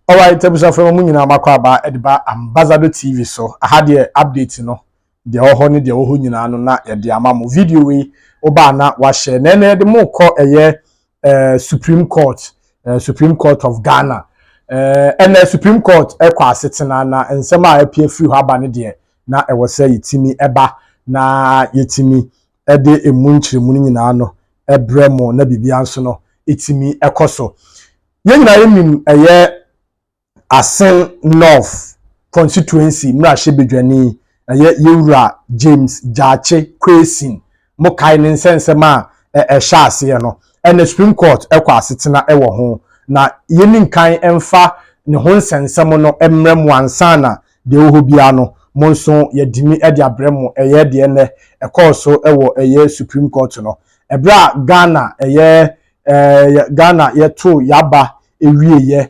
alright abusuafo no mu nyinaa makɔ aba de ba ambassador tv so aha deɛ update no deɛ wɔ hɔ ne deɛ wɔ hɔ nyinaa no na yɛde ama mo video yi wobaa na wahyɛ na ɛnɛ yɛde mo kɔ ɛyɛ eh, supreme court eh, supreme court of ghana ɛnna eh, supreme court ɛkɔ asetena na nsɛm a ɛpie firi hɔ aba no deɛ na ɛwɔ sɛ yɛtumi ɛba na yɛtumi ɛde emu nkyerɛmu no nyinaa no ɛbrɛ mu na biribiara nso no ɛtumi ɛkɔ so yɛn nyinaa yɛnim ɛyɛ Asen North Constituency mmrahyɛbadwani ɛyɛ Yɛwura James Gyakye Quayson mo kae ne nsɛnsɛm a ɛhyɛ aseɛ no ɛna Supreme Court ɛkɔ asetena ɛwɔ ho na yɛni nkan ɛmfa ne ho nsɛnsɛm no ɛmrɛ mo ansa na deɛ ɛwɔ hɔ biara no mo nso yɛdimi ɛde abrɛ mo ɛyɛ deɛ ɛnɛ ɛkɔɔ so ɛwɔ ɛyɛ Supreme Court no ɛberɛ a Ghana ɛyɛ Ghana yɛtoo yɛaba ɛwieɛ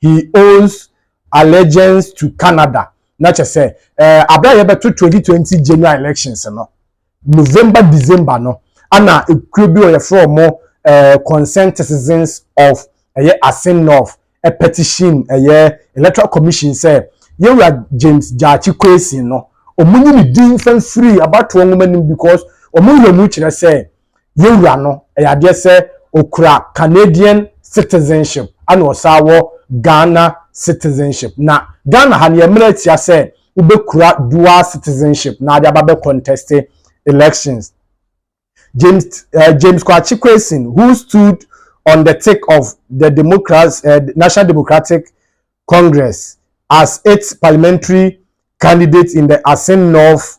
he owns allegiance to Canada. Na kyɛ sɛ eh, abere a yɛbɛto 2020 general elections no, November, December no, ana ekuo bi wɔyɛfrɛ wɔn eh, concerned citizens of ɛyɛ Asin North eh, petition ɛyɛ electoral commission sɛ yɛwura James Gyakye Kwesi no, wɔn nyi ne din fan firi abatoɔ nwoma no mu because wɔn wura mu kyerɛ sɛ Yɛn wura no, ɛyɛ adeɛ sɛ ɔkura Canadian citizenship ɛna ɔsan wɔ Ghana citizenship. Na Ghana ha no yɛn mmara tia sɛ wobɛkura dual citizenship na ade aba bɛ conteste elections. James, uh, James Kwakye Quayson, who stood on the tick of the Democrats, uh, National Democratic Congress as its parliamentary candidate in the Asin North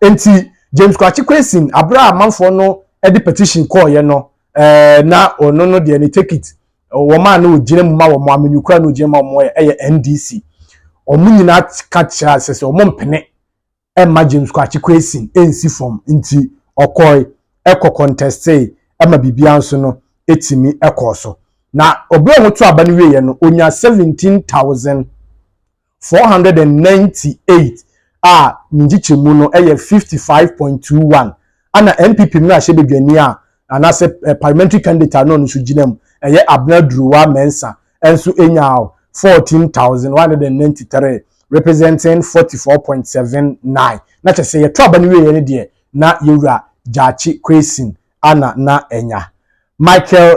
Enti James Kwakye Quayson, bere a amanfoɔ no de petition kɔɔeɛ no, ɛɛ, na ɔno no deɛ ne tekit, wɔn a na ɔgyina mu ma wɔn, amenyekura na ɔgyina mu ma wɔn yɛ, yɛ NDC. Wɔn nyinaa ka kyerɛ ase sɛ wɔn mpene mma James Kwakye Quayson nsi fam. Nti ɔkɔe, ɛkɔ kɔntɛstee, ɛma biribiara nso no ɛtumi ɛkɔɔ so. Na ɔbere a wɔto aba no wieɛ no, ɔnya 17,000 498 a ne nkyekyɛmu no yɛ 55.21 ɛna NPP mmarahyɛbadwani a anaasɛ parliamentary candidate a na ɔno nso gyina mu ɛyɛ Abena Duruwa Mensah nso nyaa 14193 representing 44.79 na kyɛ sɛ yɛto aba no wieɛ no deɛ na yɛwura Gyakye Kwesi a na na anya Michael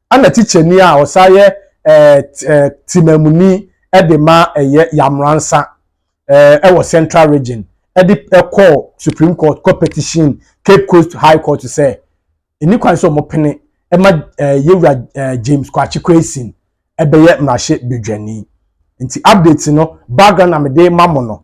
Ɛna tikyani a ɔsan yɛ temanmuni de ma ɛyɛ Yamransa wɔ Central Region de kɔɔ Supreme Court kɔ petition Cape Coast High Court sɛ ɛni kwan sɛ wɔpene ma Yewura James Kwakye Quayson bɛyɛ mmarahyɛ badwani. Nti update no background na mede ma mo no.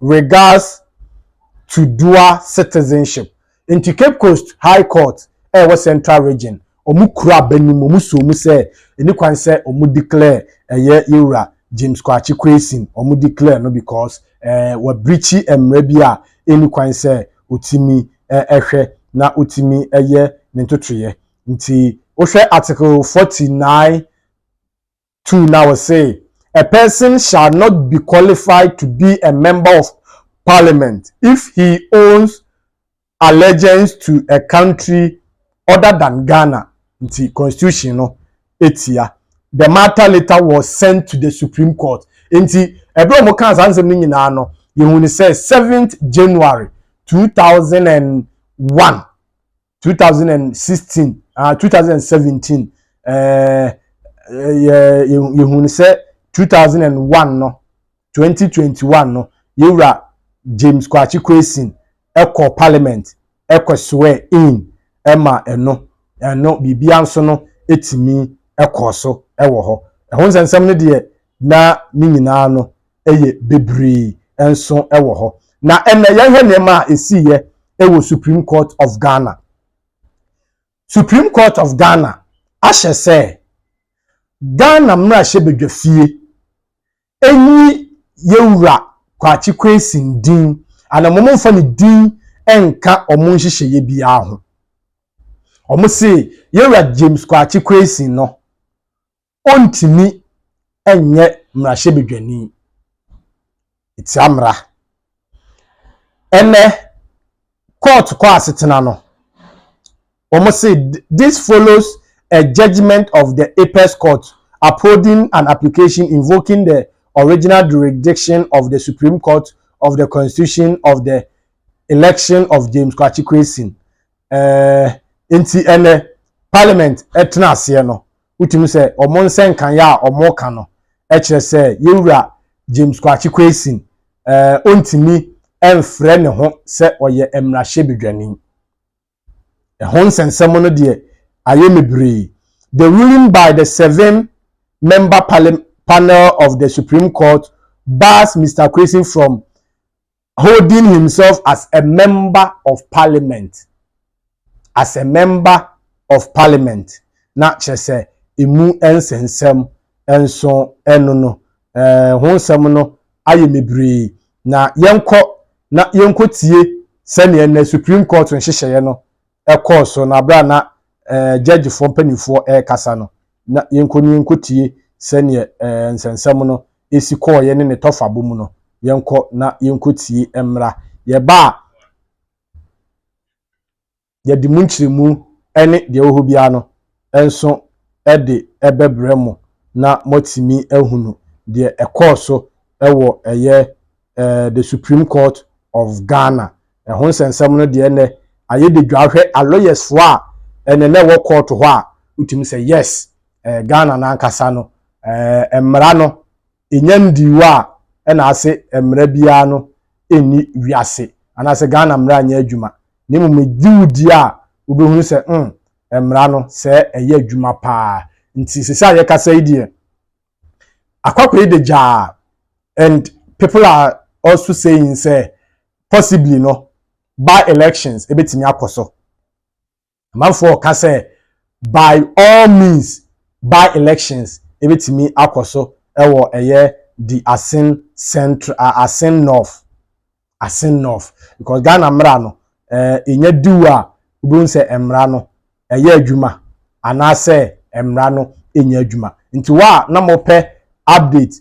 regards to dual citizenship. Nti Cape Coast High Court a ɛwɔ Central Region, wɔn kura aba no mu, wɔn soo mu sɛ ɛni kwan sɛ wɔn declare ɛyɛ yɛn wura James Kwakye Quayson, wɔn declare no because eh, wɔ breachi mmara bi a ɛni kwan sɛ ɔtumi eh, ɛhwɛ na ɔtumi ɛyɛ ne ntotoyɛ. Nti wohwɛ Article 49 2 na ɔse, A person shall not be qualified to be a member of parliament if he owns allegiance to a country other than Ghana nti constitution no tia. The matter later was sent to the Supreme Court. Nti, ɛberɛ a wɔkaa saa nsɛm no nyinaa no, yɛhunu sɛ 7th January 2001 two thousand and sixteen ah two thousand and seventeen ɛɛ yɛ yɛhunu sɛ two thousand and one no twenty twenty one no yɛwura james kwakye kwesin ɛkɔ parliament ɛkɔ swear in ɛma ɛno ɛno biribiara nso no ɛtumi ɛkɔɔ so ɛwɔ hɔ ɛho nsɛnsɛm no deɛ. na ne nyinaa no yɛ bebree nso wɔ hɔ. Na ɛnnɛ yɛnhwɛ nneɛma a ɛsiiɛ wɔ Supreme Court of Ghana. Supreme Court of Ghana ahyɛ sɛ Ghana mmarahyɛbadwafie ɛnyi yɛwura Kwakye Quayson din anaa wɔn mfa ne din nka wɔn nhyehyɛeɛ biara ho. Wɔn se yɛwura James Kwakye Quayson no ɔntumi nyɛ mmarahyɛbadwani tia mmara. Ɛnnɛ, kɔɔto kɔ asetena no, wɔse this follows a judgement of the Apex Court upholding an application invoking the original jurisdiction of the Supreme Court of the Constitution of the election of James Kwakye Quayson. Eh, nti ɛnnɛ, Parliament tena aseɛ no, Wotumi sɛ wɔn nsɛnkaeɛ a wɔka no kyerɛ sɛ Yɛwura James Kwakye Quayson ɔntumi mfrɛ ne ho sɛ ɔyɛ mmarahyɛbedwani. Ɛho nsɛnsɛm no deɛ ayɛ me bree. The ruling by the seven member panel of the Supreme Court bars Mister Quayson from holding himself as a member of parliament as a member of parliament na kyerɛ sɛ emu nsensɛm nso ɛno no ɛɛ ho nsɛm no ayɛ mebree na yɛnkɔ na yɛnkɔ tie sɛdeɛ na supreme court nhyehyɛeɛ no ɛkɔɔ so na abira na ɛɛ gyɛgyefoɔ mpanimfoɔ ɛrekasa no na yɛnkɔ na yɛnkɔtie sɛdeɛ ɛɛ nsɛnsɛm no si kɔɔeɛ ne ne tɔfabɔ mu no. Yɛnkɔ na yɛnkɔtie mmra. Yɛba a, yɛde mu nkyerɛmu ne deɛ ɛwɔ hɔ biara no nso de bɛbrɛ mo na moatumi ahunu deɛ ɛkɔɔ so wɔ ɛyɛ eh, the Supreme Court of Ghana. Ɛho nsɛnsɛm no deɛ nɛ ayɛ de dwa hwɛ aloyɛsfoɔ a ɛnɛ na ɛwɔ court hɔ a wotumi sɛ yes eh, Ghana no ankasa no eh, mmara no ɛnya ndiwo a ɛna ase mmara biara no ɛnni wiase anaasɛ Ghana mmara nyɛ adwuma na mmom ɛgye wo di a wobɛhunu sɛ mm, mmara no sɛ ɛyɛ adwuma paa nti sɛ sɛ a yɛkasa yi deɛ Akwakoraa yi de gyaa and people are also saying sɛ possibly no by elections ebetumi akɔ so. Amanfoɔ ka sɛ by all means by elections ebetumi akɔ so ɛwɔ ɛyɛ the Asin Central, Asin North Asen North because Ghana mmra no eh, ɛnya diw a wobɛhu sɛ mmra no ɛyɛ adwuma anaasɛ mmra no ɛnya adwuma. Nti wo a na mopɛ update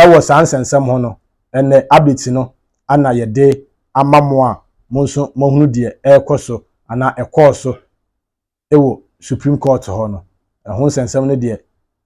ɛwɔ saa nsɛnsɛm ho no, ɛnɛ updates no ana yɛde ama mo a mo nso moahunu deɛ ɛrekɔ so anaa ɛkɔɔ so wɔ Supreme Court hɔ no, ɛho nsɛnsɛm no deɛ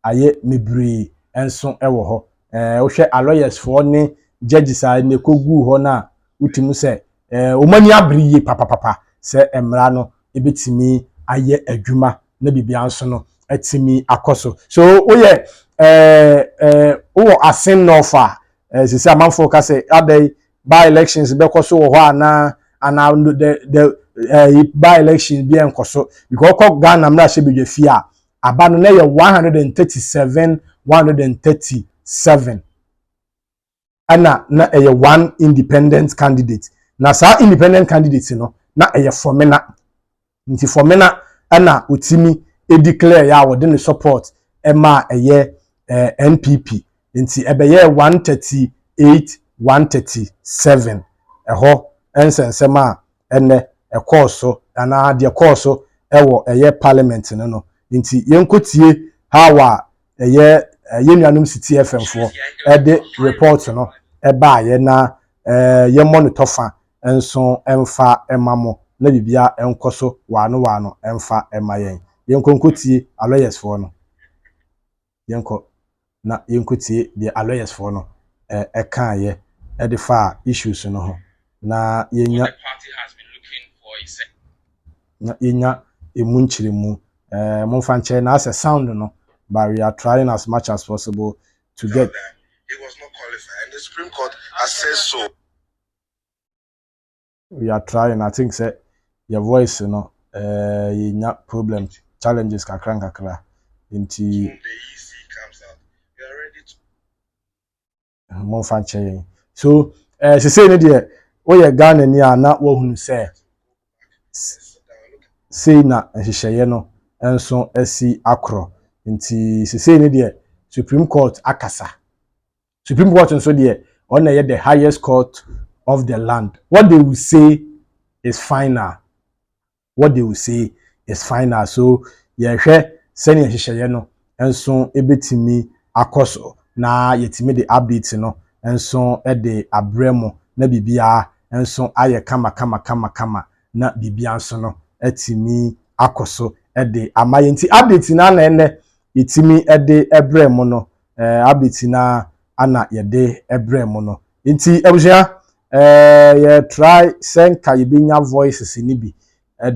ayɛ mebree nso wɔ hɔ. Ɛɛ wohwɛ alɔyɛs foɔ ne judges a ɛnɛ kɔguu hɔ no a, wote mu sɛ ɛɛ wɔn ani abere yie papapapa sɛ mmara no ɛbɛtumi ayɛ adwuma na biribiara nso no atumi akɔ so. So woyɛ ɛɛ ɛɛ wowɔ asennɔɔfo a, ɛɛ sisi amanfoɔ ka sɛ adɛn by elections bɛkɔ so wɔ hɔ anaa anaa no the the ɛɛ eh, by elections bi ɛnkɔ so because ɔkɔ ghana mmarahyɛbadwafie a aba no na yɛ one hundred and thirty seven one hundred and thirty seven ɛna na ɛyɛ one independent candidate na saa independent candidate no na ɛyɛ fɔmina Nti Fɔmena ɛna ɔtimi declare yɛ a wɔde ne support ɛmaa ɛyɛ ɛɛ NPP. Nti ɛbɛyɛɛ 138 137. Ɛhɔ ɛnsɛnsɛm a ɛnɛ ɛkɔɔ so anaa deɛ ɛkɔɔ so ɛwɔ ɛyɛ parliament no no. Nti yɛnkɔtie how a ɛyɛ eh, yɛn nuanom si tie fɛmfoɔ ɛde report no ɛbaayɛ na eh, yɛmmɔ no tɔfa nso ɛmfa ɛma mo na bibia ɛnkɔ so waano waano ɛmfa ɛma yɛn yɛnkɔ nkɔ tie alɔyɛsfoɔ no yɛnkɔ na yɛnkɔ tie deɛ alɔyɛsfoɔ no ɛkaayɛ ɛde faa issues no ho na yɛnya na yɛnya ɛmu nkyerɛmu. Uh, momfa nkyerɛ na asɛ sound no, but we are trying as much as possible to get. He was not qualified and the Supreme Court has said so. We are trying. I think say your voice you know, uh, yɛnya problem challenges kakra nkakra nti. momfa nkyɛ yɛn so ɛɛ eh, sesei no deɛ woyɛ ghana ni a na woahunu sɛ sei na nhyehyɛeɛ no nso asi akorɔ nti sesei no deɛ supreme court akasa supreme court nso deɛ wɔn na ɛyɛ the highest court of the land what they will say is final what they will say is final. So yɛhwɛ sɛnea nhyehyɛeɛ no nso bɛtumi akɔ so na yɛtumi de updates no nso de abrɛ mo na biribiara nso ayɛ kama kama kama kama na biribiara nso no atumi akɔ so de ama yɛn. Nti update na na ɛnɛ yɛtumi de brɛ mo no, eh, update na ana yɛde brɛ mo no. Nti abusua, Ɛɛ, yɛretrae sɛ nka yebenya Voices no bi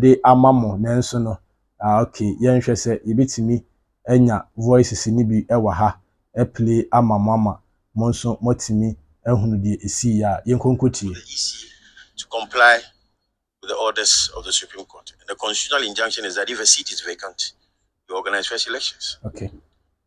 de ama mo, nanso no, ah, ok, yɛnhwɛ sɛ yebetumi anya Voices no bi wɔ ha aplay ama mo ama mo nso moatumi ahunu deɛ esii a. Yɛnkɔ nkɔtie. the EC to comply with the orders of the Supreme Court. And the constitutional injunction is that if a seat is vacant, you organize fresh elections. Okay.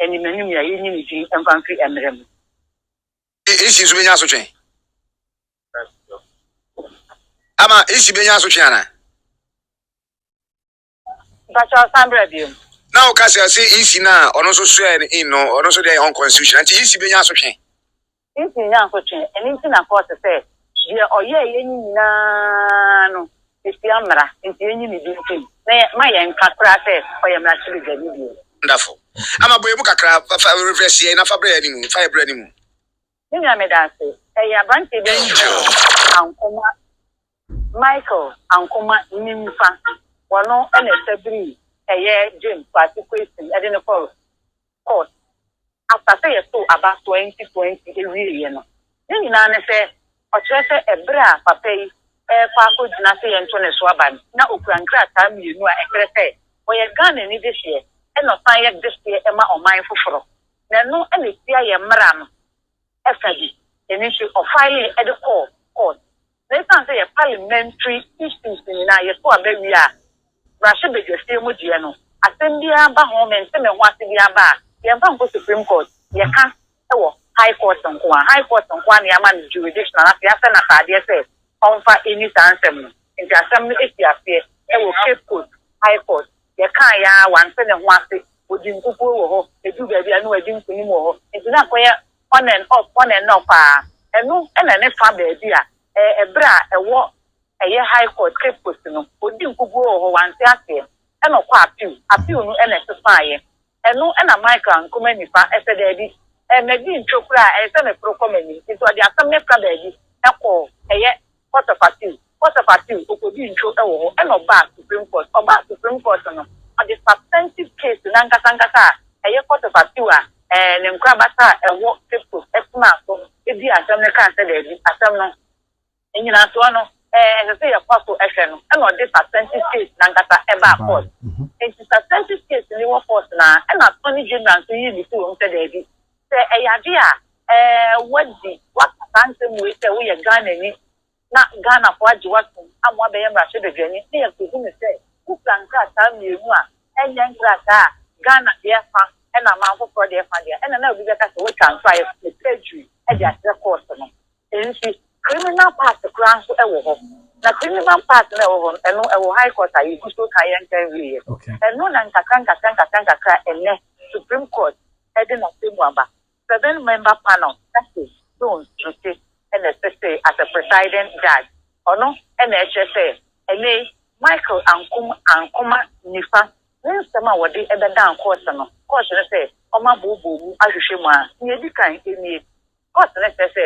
anim anim nea yennye ne din mfa mfiri mmere mu. Ishi nso bɛnya asotwe? Ama Ishi bɛnya asotwe ana? Mpakyɛ ɔsan bra biom. Na woka sɛ ɔsɛ Ishi no a ɔno nso soɛ no in no ɔno nso deɛ yɛ unconstitutional nti Ishi bɛnya asotwe? Ntini ne asotwe, ɛno nti na kɔɔte sɛ deɛ ɔyɛɛ yɛ no nyina ara no ɛtia mmara, nti yɛnyi ne din firi mu na yɛ ma yɛn nka koraa sɛ ɔyɛ mmarahyɛbadwani bio. Wonderful. Ama bɔ yɛn mu kakra, fa fa refresh yɛn na fa brɛ yɛn animu, fa yɛn brɛ animu. Me nua meda ase. Ɛyɛ abranteɛ bi a ɔfrɛ no Ankomah. Michael Ankomah Nimfa, ɔno na ɛtɛberii ɛyɛ James Kwasi Quaison ɛde no kɔɔ court after sɛ yɛtoo aba 2020 ɛwieɛ no. Ne nyinaa ne sɛ ɔkyerɛ sɛ ɛberɛ a papa yi ɛrekɔ akɔgyina sɛ yɛnto ne so aba no na ɔkura nkrataa mmienu a ɛkyerɛ sɛ ɔyɛ Ghanani dehyeɛ ɛna ɔsan yɛ dehyeɛ ma ɔman foforɔ na ɛno na ɛtia yɛn mmara no. ɛfɛ de, ɛno nti ɔfaelee de kɔɔ court. Na ɛsiane sɛ yɛ parliamentary issues nyinaa yɛto aba wie a, mmarahyɛbadwafie mu deɛ no, asɛm biara ba ho, mente me ho ase biara ba a, yɛmfa nkɔ Supreme Court, yɛka wɔ High Court nko ara. High Court nko ara na yɛama no jurisdiction anaasɛ yɛahyɛ no ataadeɛ sɛ ɔmfa nni saa nsɛm no nti asɛm no fii aseɛ wɔ Cape Coast High Court. Yɛkaeɛ ara wante ne ho ase, ɔdii nkukuo wɔ hɔ, ɛduu baabi a na wadi nkonim wɔ hɔ nti na akɔyɛ on and off, on and off ara. Ɛno na ne fa baabi a ɛberɛ a ɛwɔ ɛyɛ High Court Cape Coast no ɔdii nkukuo wɔ hɔ, wante aseɛ na ɔkɔɔ Appeal, Appeal no na ɛsesaaeɛ. Ɛno na Michael Nkrumah Nifa sɛ, Daabi, madi ntwo koraa, ɛyɛ sɛ meporo kɔ m'anim. Enti ɔde asɛm no fra baabi kɔɔ ɛyɛ Court of Appeal, Court of Appeal, ɔkɔdii ntwo wɔ hɔ, ɛnna ɔbaa Supreme Court. Ɔbaa Supreme Court no, ɔde substantive case no ankasa ankasa a ɛyɛ Court of Appeal a ne nkorabata a ɛwɔ Cape Coast, ɛpenaa so dii asɛm no kaa sɛ, Daabi, asɛm no. Nnyinasoɔ no, ɛsɛ sɛ yɛkɔ so hwɛ no, ɛna ɔde substantive case no ankasa baa court. Enti substantive case no wɔ court no ara na attorney general nso yii no fii hɔ mu sɛ daabi, sɛ ɛyɛ adeɛ a woadi, woaka saa nsɛm wei sɛ woyɛ Ghanani na Ghanafoɔ agye wo atom ama woabɛyɛ mmarahyɛbadwani na yɛakɔhu no sɛ wokura nkrataa mmienu a ɛnyɛ nkrataa a Ghana deɛ fa na aman foforɔ deɛ fa deɛ a, ɛna na obi bɛka sɛ woatwa nso ayɛ perjury de akyerɛ court no. Nso criminal part koraa nso wɔ hɔ. Na criminal part no a ɛwɔ hɔ no, ɛno ɛwɔ high court a yɛgu so reka yɛn nka nwieɛ. Ɛno na nkakra nkakra nkakra nkakra ɛnnɛ Supreme Court de n'atemmu aba. Seven member panel, Justice Jones Dutse na ɛsesee as a presiding judge. Ɔno na ɛkyerɛ sɛ ɛnnɛ yi Michael Ankum Ankoma Nifa ne nsɛm a wɔde bɛdan court no, court no sɛ ɔmma booboo mu ahwehwɛ mu a, nea ɛdi kan nie. Kɔɔs no kyerɛ sɛ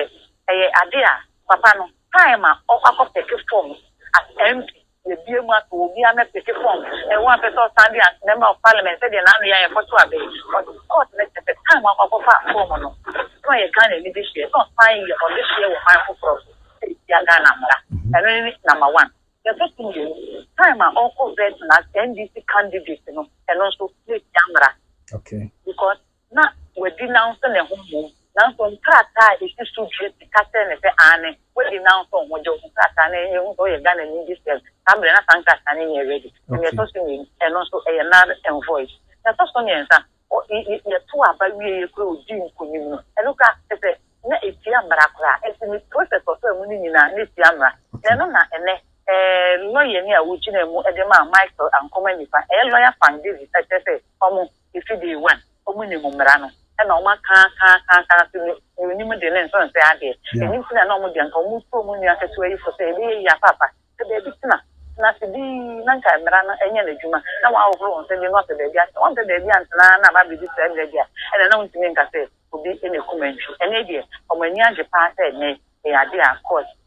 ɛyɛ ade a papa no kae ma ɔkɔ akɔpeke fɔms as MP. Yɛabue mu ato obiara mmɛpeke fɔms. Ɛyɛ wo a wopɛ sɛ ɔsan de as Member of Parliament sɛdeɛ n'ano yɛ a yɛkɔ to aba yi. But kɔɔs no kyerɛ sɛ time a ɔkɔ akɔfaa fɔm no na ɔyɛ Ghana anidehyeɛ na ɔsan yɛ ɔdehyeɛ wɔ kwan foforɔ so sɛ ɛtia Ghana mmara. Ɛno ne number one. Deɛ ɛtɔ so mmienu, time a ɔkɔ vetting as NDC candidate no, ɛno nso na ɛtia mmara. Okay. Because na wadi nanso ne ho mmom, nanso nkrataa a esi so dua ti ka kyerɛ no sɛ aane, wadi nanso nho gye wo ho krataa no yɛhu sɛ woyɛ Ghanani de sɛm saa berɛ na saa nkrataa no nyɛ ready na deɛ ɛtɔ so mmienu ɛno nso ɛyɛ null and void na ɛtɔ so mmiɛnsa yɛto aba wieɛ koraa ɔdi nkunim no ɛno koraa kyɛ sɛ na ɛtia mmara koraa ɛnti ne process ɔfaa mu no nyinaa na ɛtia mmara na ɛno na ɛnɛ lɔyani a ɔgyinaa mu de maa Michael Ankomah Nifa ɛyɛ lawyer Fang Davis ɛkyerɛ sɛ ɔmo Efi day one ɔmo nim mmara no ɛna ɔmo aka aka aka aka nso nea onim de ne nso nsɛ adeɛ. Ɛno nti na na ɔmo deɛ nka ɔmo tu ɔmo nua ketewa yi fo sɛ ɛbɛyɛ yie apaapa sɛ baabi tena tena ase dinn na nka mmara no nyɛ n'adwuma na wahohoro wɔn sɛdeɛ na wapɛ baabi atena. Wampɛ baabi antena ara na aba abɛdu saa berɛ deɛ a ɛna na wontumi nka sɛ obi na ɛkum antwi. Ɛnɛ deɛ ɔmo ani agye paa sɛ ɛnɛ ɛyɛ adeɛ a court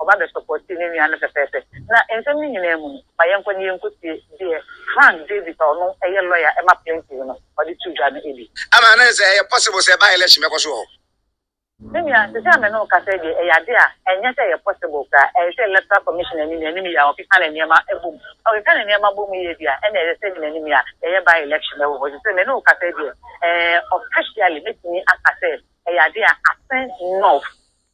ɔba bɛ supporti ne nua no pɛpɛɛpɛ. Na nsɛm no nyinaa mu no, ma yɛnkɔ na yɛnkɔtie deɛ Frank Davis a ɔno yɛ lɔya ma plaintiff no, ɔde to dwa no bi. Ama ne sɛ ɛyɛ possible sɛ by election bɛkɔ so wɔ hɔ. Me nua, sɛsɛ a me ne wo kasa yi deɛ, ɛyɛ adeɛ a ɛnyɛ sɛ ɛyɛ possible koraa. Ɛyɛ sɛ electoral commission ani na anim yɛ a wɔkeka no nneɛma bɔ mu. Na wɔkeka no nneɛma bɔ mu yie deɛ a, ɛnna ɛyɛ sɛ ani na anim yɛ a yɛyɛ by election wɔ hɔ. Sɛsɛ me ne wo kasa yi deɛ, ɛɛ officially mɛtumi aka sɛ ɛyɛ adeɛ a asen north.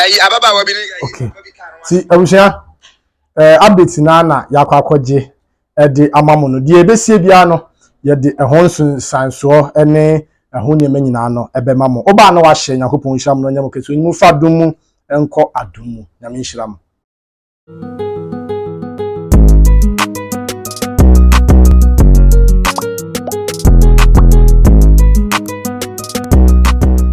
ɛyi ababaawa bi ne ɛyi okay ti abusua ɛɛ update naa na yakɔ akɔgye ɛde ama mo no deɛ ebesie biara no yɛde ɛho nsunsansoɔ ɛne ɛho nneɛma nyinaa no ɛbɛma mo ɔbaa na wahyɛ nyakopɔn nhyira mo na ɔnyɛ mo kɛse onyimu fa dum mu ɛnkɔ adum mu nyame nhyira mo.